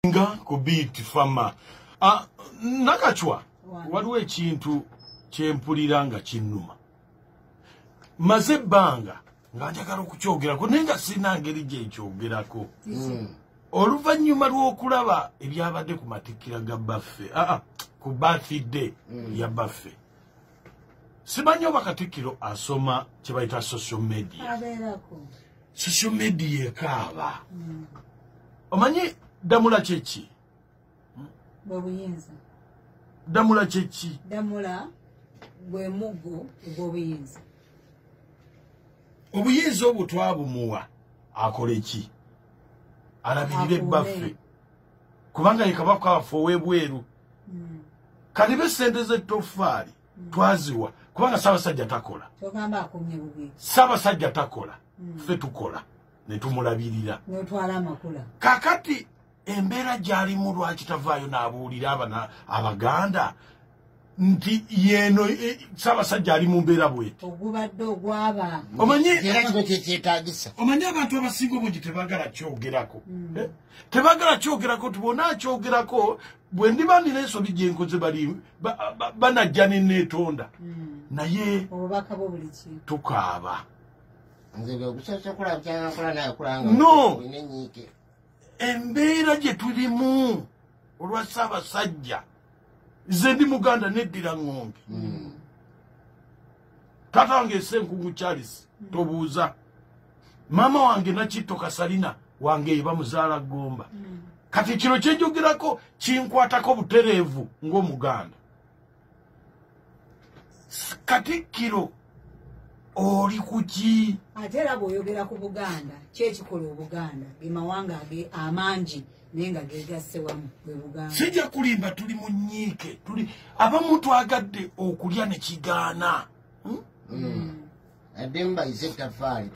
nga ku beat fama ah, nakacwa waliwo ekintu kyempulira nga kinnuma maze ebbanga nga njagala okukyogerako naye nga sirina ngeri gyekyogerako hmm. oluvannyuma lw'okulaba ebyabadde ku matikkira ga baffe aa ah, ah, ku bathday hmm. ya baffe simanyi oba katikkiro asoma kyebayita social media social media ekaaba mm. omanyi damula kyeki bwebuyinza damula kyeki damula gwe muggo ogwobuyinza obuyinza obwo twabumuwa akole ki alabirire ebbaffe kubanga yekabako affe owebweru mm. kalibe sente zettofaali twaziwa kubanga sabasajja takola sabasajja takola hmm. fe tukola netumulabirira kakati embeera gyalimu lwaki tavaayo naabuulira abana abaganda nti yeno e, sabasajja ali mu mbeera bweti omanyi abantu abasinga obungi tebagala kyogerako hmm. eh? tebagala kyogerako tibona kyogerako bwe ndiba ndina ensobi gye nkoze bali banajja ne neetonda hmm. naye tukaaba no embeera gye tulimu olwa ssaabasajja ze ndi muganda neddira ng'ombi hmm. tata wange senkungu charles tobuuza maama wange nakitto kasalina wange bamuzaala gomba mm. kati kino kyenjogerako kinkwatako butereevu ng'omuganda katikkiro oli kuki ate era bw'oyogera ku buganda kyekikola obuganda gemawanga ge amangi naye nga gegasse wamu bwe buganda sijja kulimba tuli mu nyiike tuli abamu twagadde okulya ne kigaana hmm? Hmm.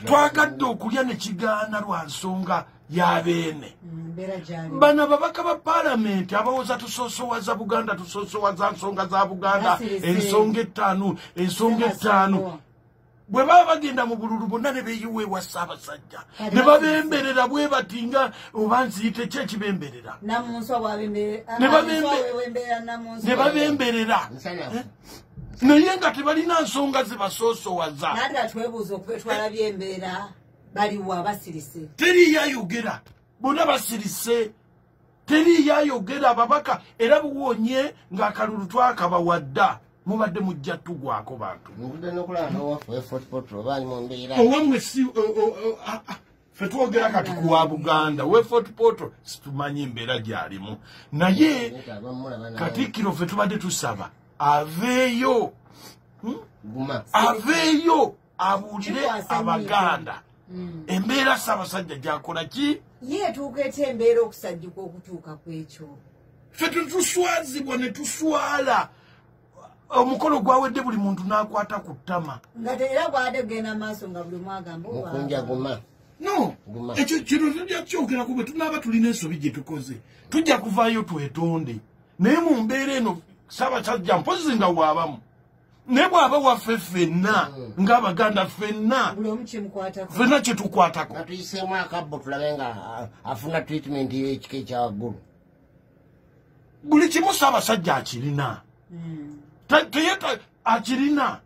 twagadde okulya ne kigaana lwa nsonga ya beene hmm, bano ababaka ba palamenti abawoza tusosowaza buganda tusosowaza nsonga za buganda ensonga ettaano ensonga ettaano bwe baba bagenda mu bululu bonna ne beyiwa ewa ssaabasajja ne babemberera bwe bati nga oba nziyite ki ekibemberera ne babemberera naye nga tebalina nsonga zibasoosowaza teriyo ayogera bonna basirise teri yayogera ababaka era buwonye nga akalulu twakaba wadda mubadde mujja tugwako bantu owamwe si fe twogera kati kuwa buganda we fort portal situmanyi mbeera gyalimu naye katikkiro fe tubadde tusaba aveeyo hmm? aveeyo abuulire abaganda mm. embeera ssaabasajja gyakola ki ye etuuka etya embeera okusajjuka okutuuka ku ekyo ffe tetuswazibwa ne tuswala omukolo gwawedde buli muntu n'akwata ku ttama nga teera gwade kugenda maaso nga buli mwagamba mukunja guma no ekyo kino tujja kukyogera kube tunaaba tulina ensobi gye tukoze tujja kuvaayo twetonde naye mu mbeera eno ssaabasajja mpozi nga waabamu naye bwaba waffe ffenna hmm. ngaabaganda ffenna ffenna kyetukwatako atuyiseemu akabbo tulabe nga afuna treatment yekika ekyawaggulu buli kimu saabasajja akirina hmm. akirina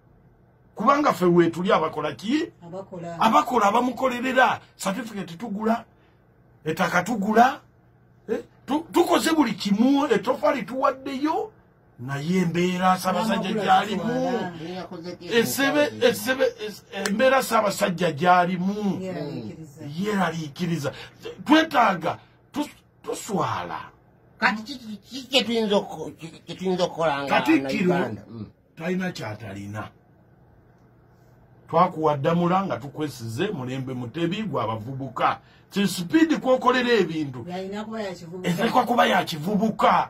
kubanga ffe wetuli abakola ki abakola abamukolerera certificate tugula etaka tugula eh, tukoze buli kimu etofali tuwaddeyo naye embeera sabasajja gyalimu embeera sabasajja gyalimu yeraliikiriza twetaaga tuswala kati kyetuyinza okukola katikkiro mm. talina kyatalina twakuwa ddamula nga tukwesize mulembe mutebi gwe abavubuka kisipidi kwokolera ebintu etekwa kuba yakivubuka